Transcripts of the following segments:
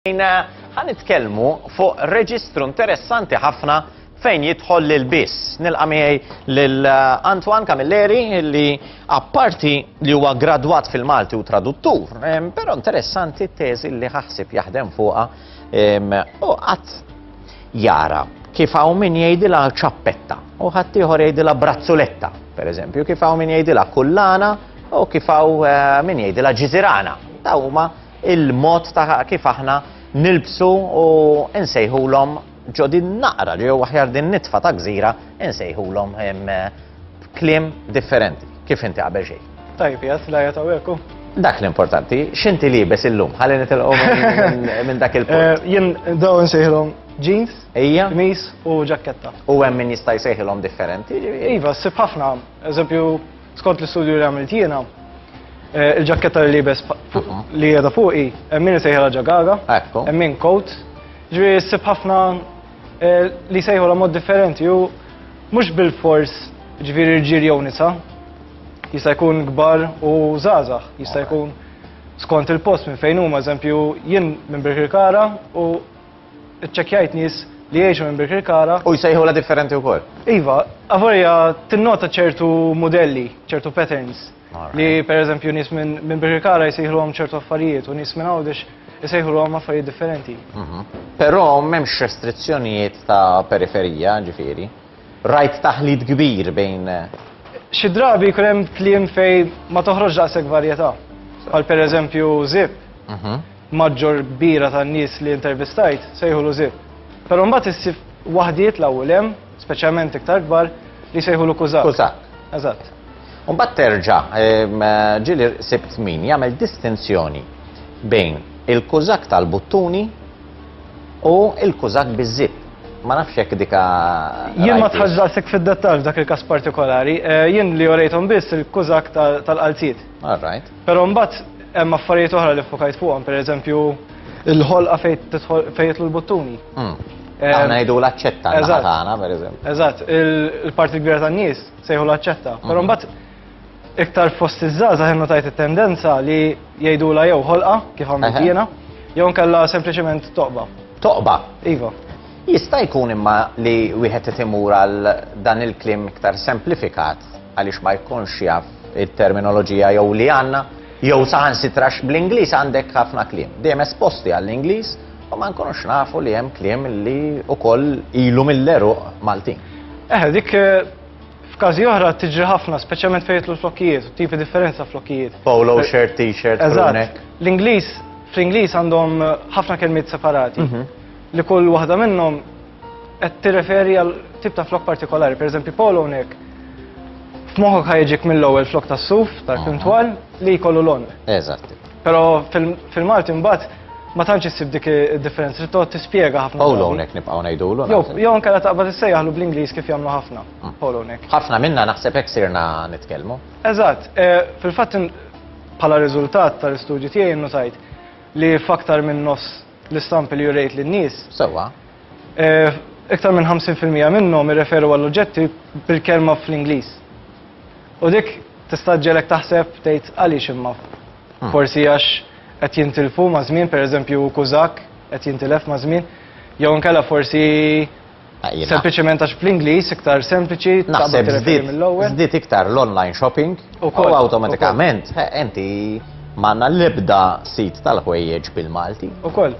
Ħa nitkellmu fuq reġistru interessanti ħafna fejn jidħol lil biss. Nilqa' miegħi lil eh, Antoine Camilleri li apparti li huwa gradwat fil-Malti u traduttur, però interessanti t-teżi li ħaħsib jaħdem fuqha u qatt jara kif hawn min jgħidilha ċappetta u ħaddieħor jgħidilha brazzuletta, pereżempju, kif hawn min jgħidilha kullana u kif hawn eh, min jgħidilha ġiżirana. Ta' huma il-mod ta' kif aħna nilbsu u nsejħulhom ġo din naqra li huwa ħjar din nitfa ta' gżira nsejħulhom kliem differenti kif inti qabel xejn. Tajb, jas la jataw ekku. Dak l-importanti, xinti li bes illum, ħalli nitilqu minn dak il-punt. Eh, jien daw nsejħilhom jeans, ija, mis u ġakketta. U hemm min jista' jsejħilhom differenti. Iva, sib ħafna, eżempju Skont l-istudju li għamilt jiena, eh, il-ġakketta li libes mhm. li jeda fuqi, emmin eh, sejħela ġagaga, emmin eh, coat, ġri s-sib ħafna li sejħu la mod differenti u mux bil-fors ġviri rġir jew nisa, jista' jkun gbar u zazax, jista' jkun skont il-post minn fejn huma, eżempju, jien minn Birkirkara u Iċċekkjajt nies li jgħixu minn Birkirkara. U jsejħulha differenti wkoll? Iva, avolja tinnota ċertu mudelli, ċertu patterns. Li pereżempju nies minn Birkirkara jsejħluhom ċertu affarijiet u nies minn Għawdex isejħuluhom affarijiet differenti. Mhm. Però m'hemmx restrizzjonijiet ta' periferija, ġifieri. Rajt taħlit kbir bejn. Xi drabi jkun hemm kliem fejn ma toħroġx daqshekk varjetà. Bħal pereżempju żip. Mhm. Maġġor kbira tan-nies li intervistajt sejħulu Zip. Però mbagħad issib waħdiet l-hawn u 'l hemm, speċjalment iktar kbar, li jsejħulu Kuzak. Kuzak. Eżatt. U mbagħad terġa' ġieli sibt min jagħmel distinzjoni bejn il-Kuzak tal-buttuni u l-Kuzak biż-żip. Ma nafx hekk dika. Jien ma tħassdaqsek fid-dettall f'dak il-każ partikolari. Eh, jien li orejthom biss il-Kuzak tal-qalziet. All right. Però mbagħad hemm affarijiet oħra li fokajt fuqhom, pereżempju il-ħolqa fejn jitlu l-buttuni. Hmm. Għana jidu l-accetta għana, per eżempju. Eżatt, il-parti kbira ta' nis sejħu l-accetta. Pero hmm. mbatt iktar fost iż-żaza ħennu tajt il-tendenza li jgħidu la jew ħolqa, kif għamil jiena, jew nkella sempliciment toqba. Toqba? Iva. Jista' jkun imma li wieħed itimur għal dan il-klim iktar semplifikat għaliex ma jkunx jaf it-terminoloġija jew li għandna, jew saħansitra x'bl-Ingliż għandek ħafna kliem. Dejjem esposti għall-Ingliż u ma nkunux nafu li hemm kliem li wkoll ilu mill-għeruq Maltin. Eħe, dik F'każi oħra tiġri ħafna, speċjalment fejn jitlu l-flokkijiet, u tipi differenza flokkijiet. Polo eh, shirt, t-shirt, Eżatt. L-Ingliż, fl-Ingliż għandhom eh, ħafna kelmiet separati. Mhm. Li kull waħda minnhom Qed tirreferi għal tip ta' flok partikolari, pereżempju polo hawnhekk f'moħħok ħajġik mill-ewwel flok tas-suf tal-krim twal li jkollu lon. Eżatt. Però fil-Malti mbagħad ma tantx issib dik id-differenza li tgħod tispjega ħafna. Polo hawnhekk nibqgħu ngħidulu. Jew jew anke la taqbad issejjaħlu bl-Ingliż kif jagħmlu ħafna. Mm. Polo hawnhekk. Ħafna minna naħseb hekk sirna nitkellmu. Eżatt, eh, fil-fatt bħala riżultat tal-istudju tiegħi nnutajt li f'aktar minn nofs L-istampi li jurejt lin-nies. Sewwa. Iktar minn 50 fil-mija minnhom irreferu għall-oġġetti bil-kelma fl-Ingliż. U dik tista' ġġegħlek taħseb tgħid għaliex imma? Forsi għax qed jintilfu maż-żmien, pereżempju kużakk qed jintilef maż-żmien, jew inkella forsi Sempliċement għax bl-Ingliż iktar sempliċi taqbad tirreferi mill-ewwel. Żdied iktar l-online shopping u awtomatikament inti m'għandna l-ebda sit tal-ħwejjeġ bil-Malti. Ukoll.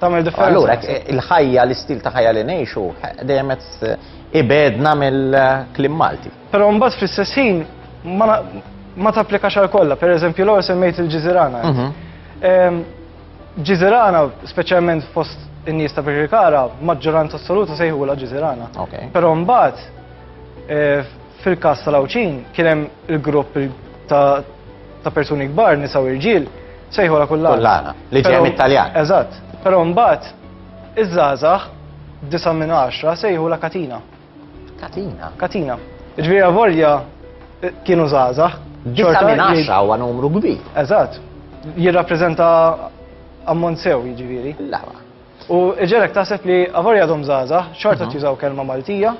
Tagħmel differenza. Allura il-ħajja l-istil ta' ħajja li ngħixu dejjem ibedna mill-klim Malti. Però mbagħad fl-istess ħin ma tapplikax għal kollha, pereżempju l-ewwel semmejt il-ġiżirana. Mhm. Ehm, Ġiżirana, speċjalment fost in-nies ta' Birkirkara, maġġoranza assoluta sejħula Ġiżirana. Però mbagħad eh, fil-każ tal-Awċin kien hemm il-grupp ta' persuni kbar, nisa u irġiel, sejħula kullana. Kullana, li ġej mit-Taljan. Eżatt. Però mbagħad iż-żgħażagħ disa' minn għaxra sejħula katina. Katina. Katina. Ġviri għavorja eh, kienu zaza. Ġorta minn għaxa u numru kbir. Eżat. Jirrapprezenta ammont sew ġviri. Lawa. U ġerek taħseb li għavorja dom zaza, xorta mhm. tużaw kelma Maltija,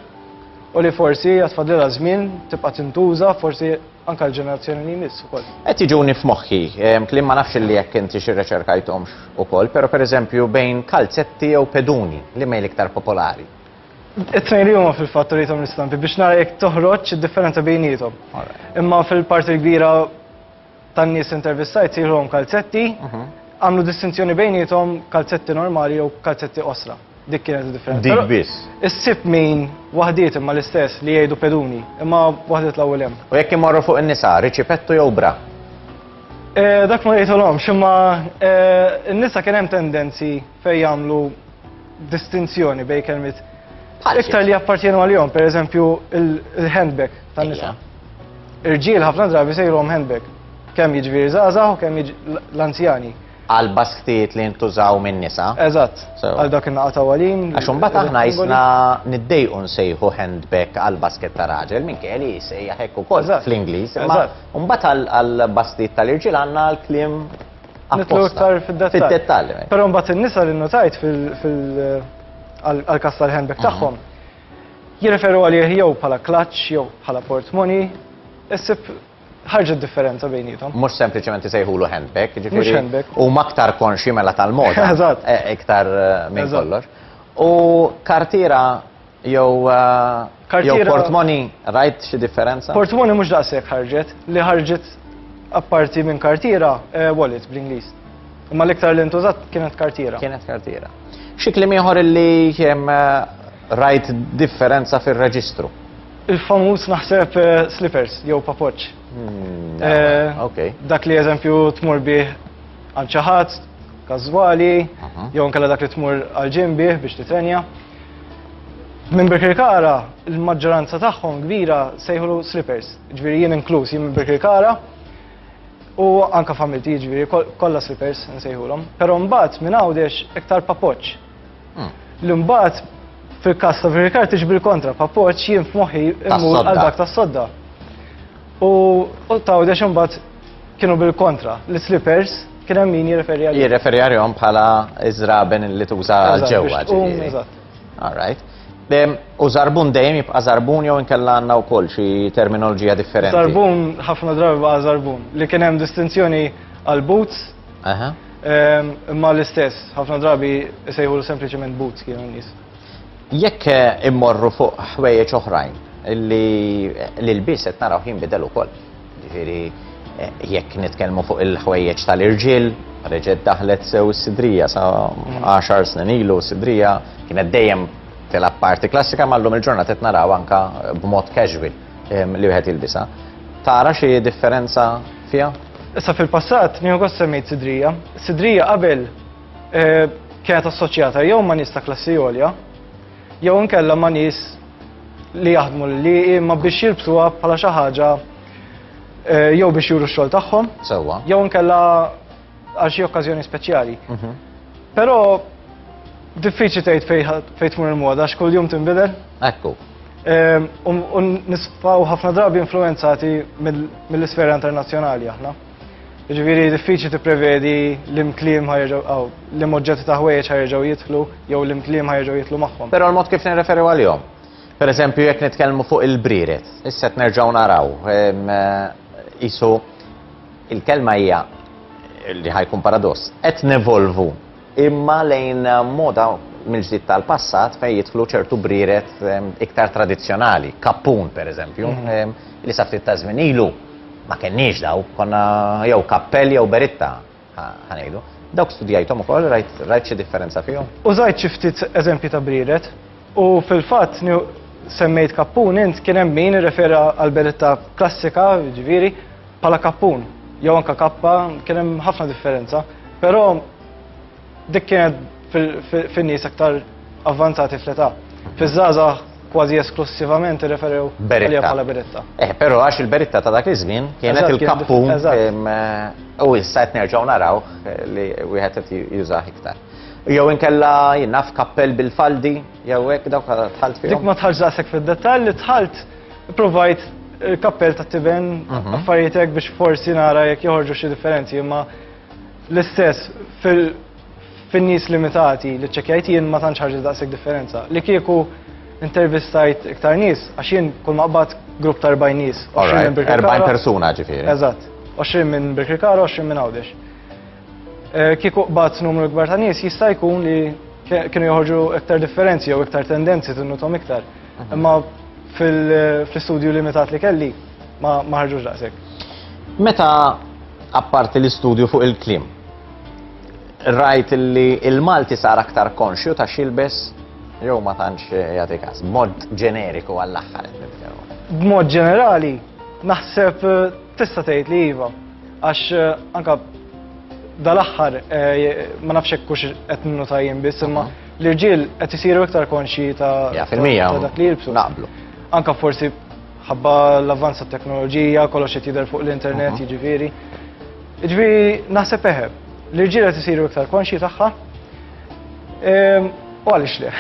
u li forsi għatfadlila zmin, tibqa tintuża, forsi anka l-ġenerazzjoni li jmiss u koll. Et iġuni f'moħħi, klim ma nafx li jekk inti xi reċerkajtomx u koll, pero per eżempju bejn kalzetti jew peduni li mejl iktar popolari. It-tnejn li huma fil-fatt urithom l-istampi biex nara jekk toħroġ id-differenza bejniethom. Imma fil-parti l-kbira tan-nies intervistajt sirhom kalzetti, mhm. għamlu distinzjoni bejniethom kalzetti normali jew kalzetti osra. Dik kienet differenza. Dik biss. Issib min waħdiet imma l-istess li jgħidu peduni, imma waħdet l-ewwel hemm. U jekk imorru fuq in-nisa, riċipettu jew bra? Eh, dak ma jgħidulhom, ximma eh, n-nisa kien hemm tendenzi fejn jagħmlu distinzjoni bej kelmiet iktar li jappartjenu għal-jom, per eżempju il-handbag tan nisa Irġiel ħafna drabi sejrom handbag, kemm jiġviri zazaw, u kemm l-anzjani. Għal basktiet li jintużaw minn nisa. Eżatt, għal dak il-naqa ta' għalin. Għaxum bat aħna jisna niddejqu nsejħu handbag għal basket ta' raġel, minn kelli jisejja hekku kol fl-Inglis. Eżatt. Umbat għal basktiet tal-irġiel għanna l-klim Nitlu iktar fid-dettall. Eh. Però mbagħad in-nisa li notajt fil-kas tal-handbag mhm. tagħhom jirreferu għalih jew bħala klaċċ jew bħala portmoni, issib ħarġet differenza bejnietom. Mux sempliciment sejħulu handbag, ġifiri. handbag. U maktar konxi mela tal-moda. Eżatt. Eh, iktar eh, minn kollox. U kartira Jew jew portmoni rajt xi differenza? Portmoni mhux daqshekk ħarġet, li ħarġet apparti minn kartiera wallet bl-Ingliż. Imma l-iktar li ntużat kienet kartiera. Kienet kartiera. Xi kliem ieħor illi rajt differenza fir-reġistru? Il-famuż naħseb slippers jew papoċċ. Dak li eżempju tmur bih għand xi ħadd każwali jew inkella dak li tmur għall-gym bih biex titrenja. Minn Birkirkara, il-maġġoranza tagħhom kbira sejħulu slippers, ġviri jien inkluż jien minn Birkirkara u anka familti ġviri kollha slippers nsejħulhom. Però mbagħad minn għawdex iktar papoċ. Hmm. Li mbagħad fil-każ ta' Birkirkara tiġbir kontra papoċ jien f'moħħi immur għal dak tas-sodda. U ta' għawdex mbagħad Kienu bil-kontra, l-slippers kien hemm min jirreferi għalihom. Jirreferi għalihom bħala iżraben li tuża ġewwa ġifieri. All right. U zarbun dejjem jibqa' zarbun jew inkella għandna wkoll xi terminoloġija differenti. Zarbun ħafna drabi baqa' zarbun li kien hemm distinzjoni għal boots. Imma l-istess, ħafna drabi sejħu sempliċement boots kienu n-nies. Jekk eh, immorru fuq ħwejjeġ oħrajn li l-biset naraw jinbidel ukoll. Ġifieri jekk nitkellmu fuq il-ħwejjeġ tal-irġiel, reġgħet daħlet sew is-sidrija sa 10 snin ilu sidrija kienet dejjem tilab parti klassika mallum il-ġurnata qed naraw anka b'mod casual li wieħed jilbisa. Tara xi differenza fiha? Issa fil-passat nieħu gost semmejt sidrija. Sidrija qabel eh, kienet assoċjata jew ma' nista klassi għolja, jew inkella ma' nies li jaħdmu li imma biex jilbsuha bħala xi ħaġa eh, jew biex juru x-xogħol tagħhom. Sewwa. Jew inkella għal xi okkażjoni speċjali. Mhm. Però diffiċli tgħid fejn tmur il-moda għax kuljum tinbidel. Ekku. Ehm, u nisfaw ħafna drabi influenzati mill-isfera internazzjonali aħna. Jiġifieri diffiċli tipprevedi li mkliem ħajġu aw li moġġetti ta' ħwejjeġ ħajġu jidħlu jew li mkliem ħajġu jidħlu magħhom. Però l-mod kif nirreferiw għalihom. Per eżempju, jekk nitkellmu fuq il-brieret, issa qed nerġgħu naraw qisu il-kelma hija li ħajkun paradoss qed nevolvu imma lejn moda mill-ġdid tal-passat fejn jidħlu ċertu brieret iktar tradizzjonali, kappun pereżempju, li sa ftit ta' żmien ilu ma kenniex daw, konna jew kappell jew beritta ħanejdu. Dawk studjajthom ukoll rajt xi differenza fihom? Użajt xi ftit eżempji ta' brieret u fil-fatt semmejt kappun int kien hemm min irrefera għall-beritta klassika, jiġifieri, Bħala kappun, jew anka kappa, kien hemm ħafna differenza, però dik kienet fin-nies aktar avvanzati fl-età. Fiż-żgħażagħ kważi esklussivament irreferew għalija bħala beritta. Eh, però għax il-beritta ta' dak iż-żmien kienet il-kappun eh, u issa qed nerġgħu naraw eh, li wieħed qed jużah iktar. Jew inkella jinnaf kappell bil-faldi, jew hekk dawk tħalt fihom. Dik ma tħarġ daqshekk fid-dettall li tħalt Provajt il-kappell ta' tiben mhm. affarijiet hekk biex forsi nara jekk joħorġu xi differenzi, imma l-istess fin-nies limitati li ċekjajt jien ma tantx ħarġet daqshekk differenza. Li kieku intervistajt iktar nies, għax jien kull maqbad grupp ta' 40 nies. 40 persuna ġifieri. Eżatt. 20 minn Birkirkara, 20 minn Għawdex. Eh, kieku qbad numru kbar ta' nies jista' jkun li kienu joħorġu iktar differenzi jew iktar tendenzi tinnutom iktar. Mhm. Imma fil-istudju limitat li kelli ma ħarġux daqshekk. Meta apparti l-istudju fuq il-klim, rajt li il-Malti sar aktar konxju ta' xilbes jew ma tantx jagħti każ, mod ġeneriku għall-aħħar. B'mod ġenerali, naħseb Tista' tgħid li iva, għax anka dal-aħħar ma nafx hekk hux qed ninnota jien biss, imma l-irġiel qed isiru iktar konxji ta' Ja, fil-mija, ta' dak li jilbsu. naqblu. Anka forsi ħabba l-avvanz tat-teknoloġija, kollox qed jidher fuq l-internet, jiġifieri. Jiġifieri naħseb eħe, l-irġiel qed isiru iktar konxji tagħha. Ehm, u għalix le,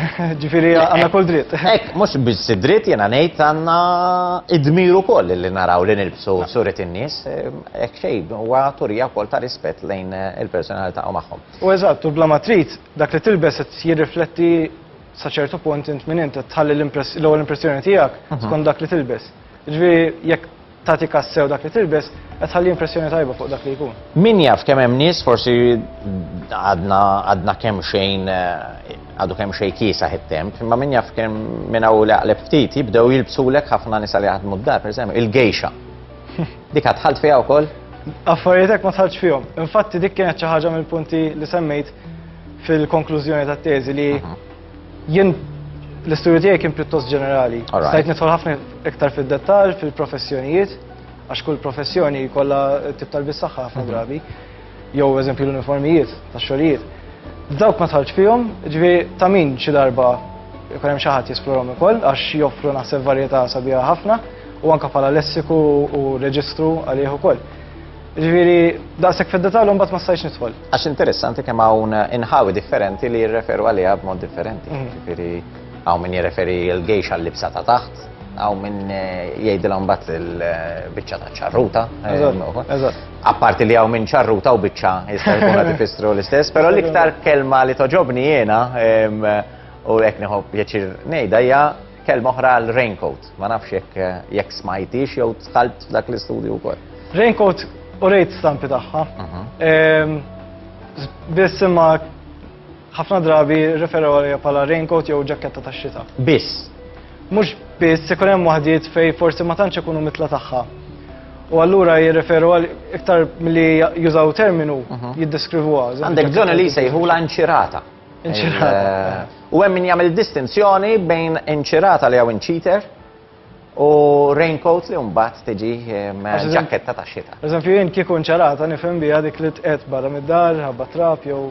ġifiri għanna kol dritt. Ek, mux biex dritt jena nejt għanna id-dmiru kol li naraw li nilbsu surit in-nis, ehm, ek xej, u għaturija kol ta' rispet lejn eh, il-personalità u maħħom. U eżatt, u bla matrit, dak li tilbes jirrifletti saċertu punt int minn int, tħalli l-ewwel impressjoni tiegħek mhm. skont dak li tilbes. Ġifieri jekk tagħtik għas-sew dak li tilbes qed tħalli impressjoni tajba fuq dak li jkun. Min jaf kemm hemm nies forsi għadna għadna kemm xejn għadu kemm xejn kiesaħ it-temp, imma min jaf kemm minn hawn li għaqleb ftit jibdew jilbsulek ħafna nisa li jaħdmu d-dar, pereżempju, il-gejxa. Dik għad tħalt fiha wkoll? Affarijiet hekk ma tħaltx fihom. Infatti dik kienet xi ħaġa mill-punti li semmejt fil-konklużjoni tat-teżi li Jien l-istudju tiegħi kien pjuttost ġenerali. Stajt nidħol ħafna iktar fid-dettall fil-professjonijiet, għax kull professjoni jkollha tip tal-bis saħħa ħafna mhm. drabi, jew eżempju l-uniformijiet tax-xogħlijiet. Dawk ma tħallx fihom, ġvi ta' min xi darba jkun hemm xi ħadd jesplorom ukoll għax joffru naħseb varjetà sabiħa ħafna u anke bħala lessiku u reġistru għalih ukoll. Ġifieri daqshekk fid-detallu mbagħad ma stajtx nidħol. Għax interessanti kemm hawn inħawi differenti li jirreferu għaliha b'mod differenti. Mhm. Ġifieri hawn min jirreferi l-gejx għal-libsa ta' taħt, hawn min eh, jgħidilhom mbagħad il-biċċa ta' ċarruta. Eh, Apparti li hawn minn ċarruta u biċċa jista' jkun qed ifissru l-istess, però l-iktar kelma li toġobni jiena u hekk nieħu pjaċir ngħidha hija Kelma oħra għal raincoat, ma nafx jekk jekk smajtix jew tħalt f'dak l-istudju wkoll. Raincoat u rejt stampi tagħha. Mhm. Ehm, biss imma ħafna drabi referu għalija bħala raincoat jew ġaketta tax-xita. Biss. Mhux biss ikun hemm waħdiet fej forsi ma tantx ikunu mitla tagħha. U allura jirreferu għal iktar milli jużaw terminu mhm. jiddeskrivuha. Għandek bżonn li jsejħu l-anċirata. U hemm min jagħmel distinzjoni bejn inċirata li hawn inċiter u raincoat li mbagħad tiġi ehm, ġaketta ta' xita. Eżempju jien kieku inċirata nifhem biha dik li tqed barra mid-dar, ħabba trap jew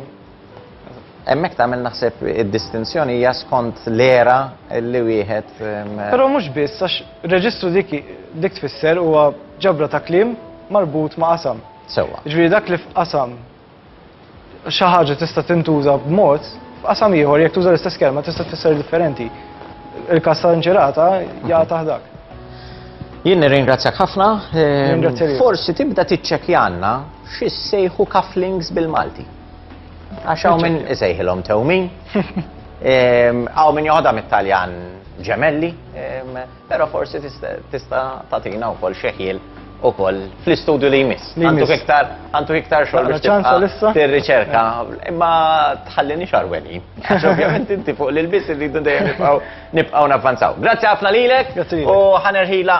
Emmek tagħmel naħseb id-distinzjoni hija skont l-era li wieħed. Ehm, Però mhux biss għax reġistru dik dik tfisser huwa ġabra ta' kliem marbut ma' qasam. Sewwa. Ġifieri dak li f'qasam Xi ħaġa tista' tintuża b'mod, f'qasam ieħor jekk tuża l-istess kelma tista' tfisser differenti. Il-każ ta' inċerata ja dak. Jien nirringrazzjak ħafna. Ehm, forsi tibda tiċċekjanna xi sejħu cufflinks bil-Malti. Għax hawn minn isejħilhom tewmin. Ehm, hawn minn joħodha mit-Taljan ġemelli. Ehm, Pero forsi tista tatina u kol xeħil u kol fl-istudju li jmiss. Għantu iktar, għantu iktar xogħol biex tibqa' tir-riċerka, imma tħallini xarweni. Għax ovvjament inti fuq l-biss irridu dejjem nibqgħu nibqgħu navvanzaw. Grazzi ħafna lilek u ħanerħila